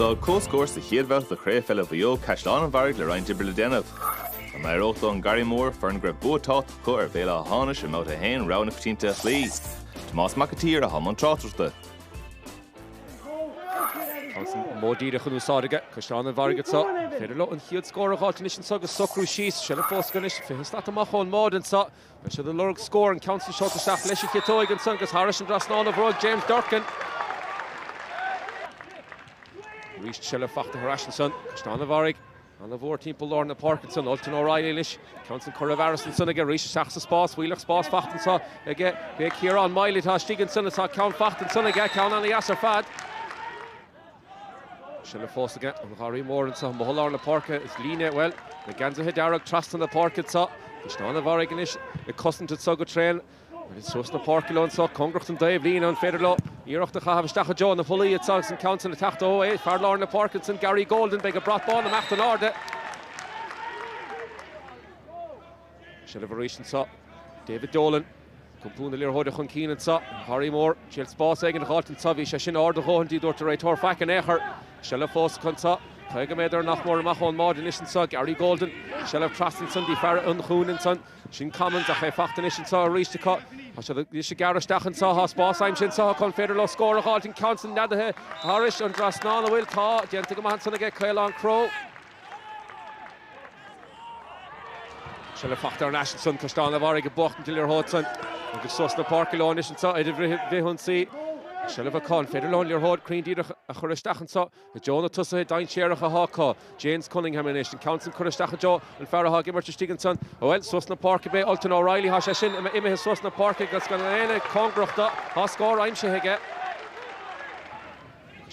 D'fhág comhscór sa chéad bhabhta de Chraobh Pheile Mhaigh Eo Caisleán an Bharraigh le roinnt oibre le déanamh. Dá n-éireodh do An Garraí Mór, foireann go raibh bua tábhachtach acu ar Bhéal Átha hAmhnais i mbabhta a haon, rogha na coitianta a chloí. Tomás Mac an tSaoir atá i mbun tráchtaireachta. An modh díreach in úsáid aige Caisleán an Bharraigh anso. An féidir leo an chéad scór a dh'fháilt anois anso agus socrú síos. Seilbh fós acu anois, fiche slat amach ón mbáide anso. Beidh siad ag lorg scór, an ceann san seolta isteach leis an chiotóig ansan agus thairis an dtrasnán ó bhróg James Durcan. Arís seilbh fachta ar ais ansan, Caisleán an Bharraigh ana-mhór timpeall lár na páirce ansan, Ultan O'Reilly anois, ceann san curtha i bhfearas ansan aige arís isteach sa spás, fuíollach spás fachta anso aige, b'é Ciarán Mylett atá istigh ansan is tá ceann fachta ansan aige, ceann ana-dheas ar fad. Seilbh fós aige An Garraí Mór anso amuigh i lár na páirce is líne, bhuel, na geansaithe dearg trasna na páirce anso, Caisleán an Bharraigh anois ag cosaint anso go tréan, is suas na páirce leo anso, cóngarach don dtaobhlíne an féidir leo iarracht a chaitheamh isteach i dtreo na pollaí anso agus an ceann san ag teacht ó é fear lár na páirce ansan Gary Golden beidh an brat bán ag imeacht in airde. Seilbh arís anso. David Dolan. Ag iompú na liathróide chun cinn anso. An Gharraí Mór. Triail spás éigin a dh'fháilt anso. Bhí sé sin ard a dhóthain, ní dúirt an réiteoir faic in aon chor. Seilbh fós acu anso. Caoga méadar nach mór amach ón mbáide anois anso. Gary Golden. Seilbh trasna ansan go dtí fear an chúinne ansan. Sin Commins ach é fachta anois anso arís acu. Tá siad anois ag gearradh isteach anso. Tá spás aimsithe anso acu. An féidir leo scór a dh'fháilt? An ceann san neadaithe thairis an dtrasnán. An bhfuil? Tá. Déanta go maith ansan aige Caolán Crowe. Seilbh fachta thar n-ais ansan, Caisleán a' Bharraigh ag buachtaint an liathróid san agus suas na páirce leo anois anso ar an bhfrithionsaí. Seilbh acu, an féidir leo an liathróid cruinn díreach a chur isteach anso i dtreo na tosaithe dainséaracha atá acu. James Cunningham anois, an ceann san curtha isteach i dtreo an fear atá ag imirt istigh ansan. Bhuel, suas na páirce ab é Ultan O'Reilly, tá sé sin imithe suas na páirce agus gan éinne cóngarach dó, tá scór aimsithe aige.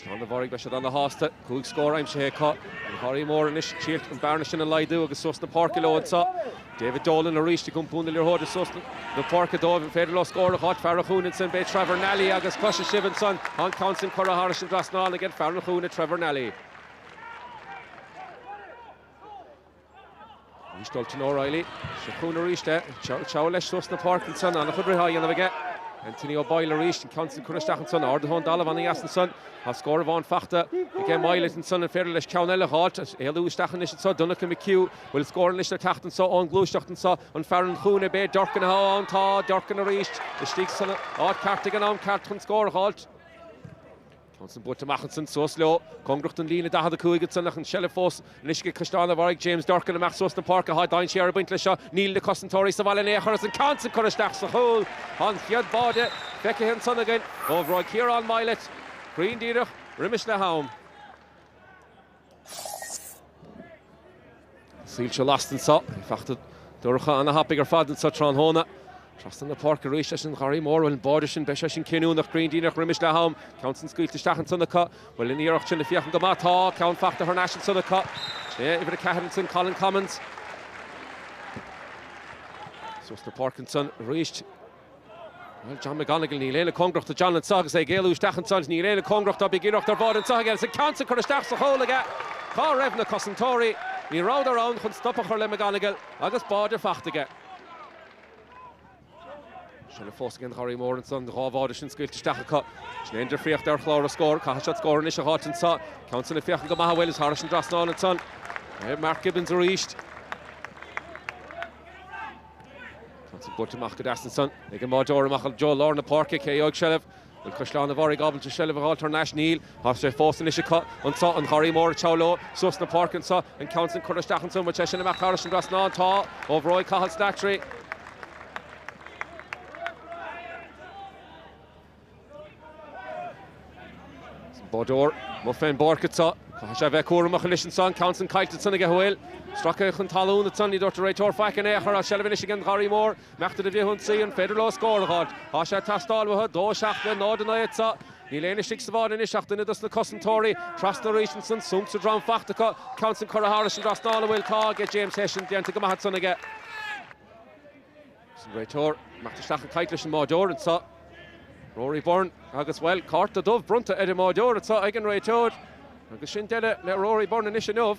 Caisleán an Bharraigh, beidh siad ana-shásta. Cúig scór aimsithe acu. An Gharraí Mór anois ag triail an bearna sin a laghdú agus suas na páirce leo anso. David Dolan arís ag iompú na liathróide suas na páirce dóibh. An féidir leo scór a dh'fháilt? Fear an Chúinne ansin, b'é Trevor Nally agus cloisfidh sibh ansan, tá an ceann sin curtha thairis an dtrasnán aige fear an Chúinne, Trevor Nally. Arís Ultan O'Reilly. Seo chugainn arís é. Seo leis suas na páirce ansan. Ana-chuid rith á dhéanamh aige. Anthony O'Boyle arís. An ceann san curtha isteach ansan. Ardaithe ón dtalamh ana-dheas ansan. Tá scór amháin fachta aige Mylett ansan. An féidir leis ceann eile a dh'fháilt? Éalú isteach anois anso Donncha McHugh. Bhfuil scór anois le teacht anso ón ngluaiseacht anso? An fear an chúinne, b'é Durcan atá ann. Tá Durcan arís istigh san áit cheart ag an am ceart chun scór a dh'fháilt. An ceann san buailte amach ansan suas leo, cóngarach don líne 45 ansan ach an tseilbh fós anois ag Caisleán an Bharraigh James Durcan amach suas na páirce. Tá dainséar ag baint leis seo, níl na cosantóirí sa bhaile in aon chor is an ceann san curtha isteach sa chúl. Tá an chéad bháide feicthe ansan againn ó bhróig Kieran Mylett, cruinn díreach roimis leath-am. Soilse lasta anseo. Fachta dorcha ana-thapaidh ar fad anseo tráthnóna. Trasna na páirce arís leis an Gharraí Mór. Bhuel, an báide sin, beidh sé sin cinniúnach, cruinn díreach roimis leath-am. Ceann san scaoilte isteach ansan acu. Bhuel, an iarracht sin ag féachaint go maith. Tá! Ceann fachta thar n-ais ansan acu. Sé uimhir a ceathair ansan, Colin Commins. Suas na páirce ansan arís. John McGonigle, Níl éinne cóngarach do John anseo agus é ag éalú isteach anseo. Níl éinne cóngarach dó, iarracht ar bhád anseo aige agus an ceann sin curtha isteach sa chúl aige. Cá raibh na cosantóirí? Ní rabhadar ann chun stop a chur le McGonigle agus báide fachta aige. Seilbh fós ag an Gharraí Mór anseo, an dhá bháide sin scaoilte isteach acu. Sin é an difríocht ar chlár an scóir. Caithfidh siad scór anois a dh'fháilt anseo. Ceann sin ag féachaint go maith bhuel is thairis an dtrasnán anseo. Mark Gibbons arís. An ceann san buailte amach go deas ansan ag an mbáideoir amach go lár na páirce. Cé a gheobhaidh seilbh? Bhfuil Caisleán an Bharraigh ábalta seilbh a dh'fháilt thar n-ais? Níl. Tá sé fós anois acu anseo, an Gharraí Mór ag treabhadh leo suas na páirce anseo. An ceann san curtha isteach ansan, bhfuil sé sin ag imeacht thairis an dtrasnán? Tá. Ó bhróig Cathal Slattery. An báideoir amuigh fén bpáirc atá. Caithfidh sé bheith cúramach anois anseo. An ceann san caillte ansan aige an bhfuil. Stracadh chun talún ansan. Ní dúirt an réiteoir faic in aon chor is seilbh anois ag an Gharraí Mhór. Imeacht ar an bhfrithionsaí. An féidir leo scór a dh'fháilt? Tá sé teastáil uathu. 2, 7 le 0, 9 atá. Níl éinne istigh sa bhád anois ach duine dos na cosantóirí. Trasna arís ansan. Súnc sa drom fachta acu. An ceann san curtha thairis an dtrasnán an bhfuil. Tá ag James Hession. Déanta go maith ansan aige. Is an réiteoir ag imeacht isteach ag caint leis an mbáideoir anseo, Rory Byrne, agus, bhuel, cárta dubh bronnta ar an mbáideoir anseo ag an réiteoir agus sin deireadh le Rory Byrne anois inniu.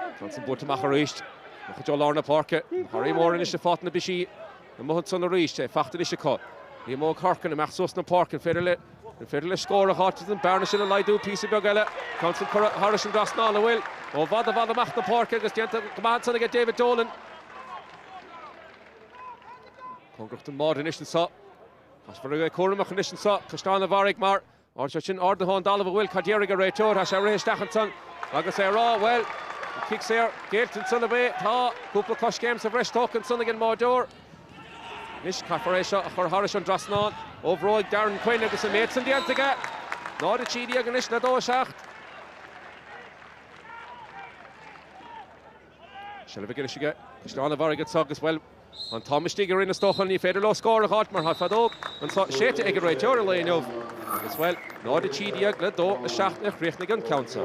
An ceann san buailte amach arís. Amach go lár na páirce. An Gharraí Mór anois ag fáilt ana-busy. Amuigh ansan arís é? Fachta anois acu. Liam Óg Horkan imeacht suas na páirce. An féidir leis scór a dh'fháilt agus an bearna sin a laghdú píosa beag eile? An ceann san curtha thairis an dtrasnán an bhfuil ó i bhfad i bhfad amach na páirce agus déanta go maith ansan aige David Dolan. Cóngarach don mbád anois anso. Caithfear a bheith cúramach anois anso. Caisleán an Bharraigh mar Anseo sin ardaithe ón dtalamh an bhfuil cad déarfaidh an réiteoir? Tá sé rith isteach ansan agus é ag rá, bhuel, an cic saor géillte ansan ab é? Tá cúpla coiscéim sa bhreis tógtha ansan ag an mbáideoir. Anois caithfear é seo a chur thairis an dtrasnán. Ó bhróig Darren Quinn agus an méid san déanta aige. 0, 13 anois le 2, 7. Seilbh anois aige Caisleán an Bharraigh, agus bhuel, an t-am istigh ag an stócach ní féidir leo scór a dh'fháilt mar tá an fheadóg séidte ag an réiteoir an lae inniu agus bhuel, 0 a 13 le 2 a 7 a chríochnaigh an ceann sa.